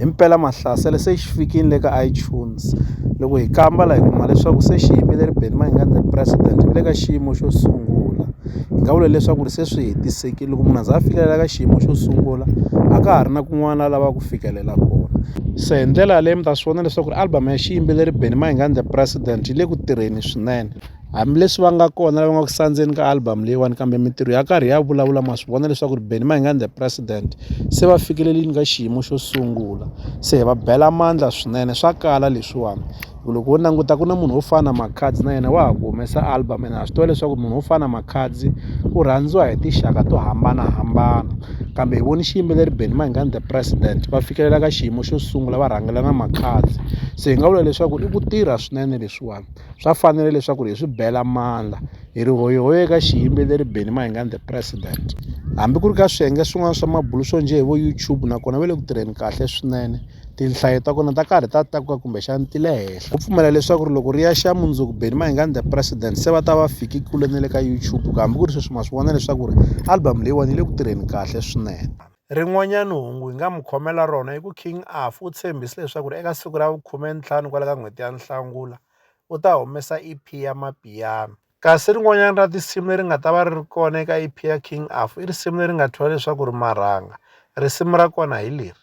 Himpela Mahlasela se xi fikile le ka iTunes. Loko hi kamba la hi kuma leswaku se xi yimile ri Benny Mayengani President ri le ka xiyimo xo sungula. Hi nga vula leswaku ri se swi hetisekile loko munhu a za a fikelela ka xiyimo xo sungula a ka ha ri na kun'wana la lavaka ku fikelela kona. Se hi ndlela yaleyo mi ta swi vona leswaku ri album ya xiyimbeleri Benny Mayengani President yi le ku tirheni swinene. Hambileswi va nga kona lava nga ku sandzeni ka album leyiwani kambe mintirho ya karhi ya vulavula ma swi vona leswaku ri Benny Mayengani the president se va fikelelini ka xiyimo xo sungula se hi va bela mandla swinene swa kala leswiwani loko wo languta ku na munhu wo fana na Makhadzi na yena wa ha ku humesa album ene ha swi tiva leswaku munhu wo fana na Makhadzi u rhandziwa hi tinxaka to hambanahambana kambe hi voni xiyimbeleri Benny Mayengani the president va fikelela ka xiyimo xo sungula va rhangela na Makhadzi se hi nga vula leswaku i ku tirha swinene leswiwani swa fanela leswaku hi swi bela mandla hi ri hoyihoyi eka xiyimbeleri Benny Mayengani the president hambi ku ri ka swiyenge swin'wana swa mabulo swo njhe hi vo YouTube nakona va le ku tirheni kahle swinene tinhlayo ta kona ta karhi ta takuka kumbexana ti le henhla ku pfumela leswaku ri loko ri ya xa mundzuku Benny Mayengani the president se va ta va fiki kule na le ka YouTube kambe ku ri sweswi ma swi vona leswaku ri album leyiwani yi le ku tirheni kahle swinene Rin'wanyana hungu hi nga mi khomela rona i ku King Afy u tshembise leswaku ri eka siku ra vukhumentlhanu kwala ka n'hweti ya Nhlangula u ta humesa EP ya Mapiano. Kasi rin'wanyana ra tinsimu leri nga ta va ri ri kona eka EP ya King Afy i risimu leri nga thyiwa leswaku ri Marhanga. Risimu ra kona hi leri.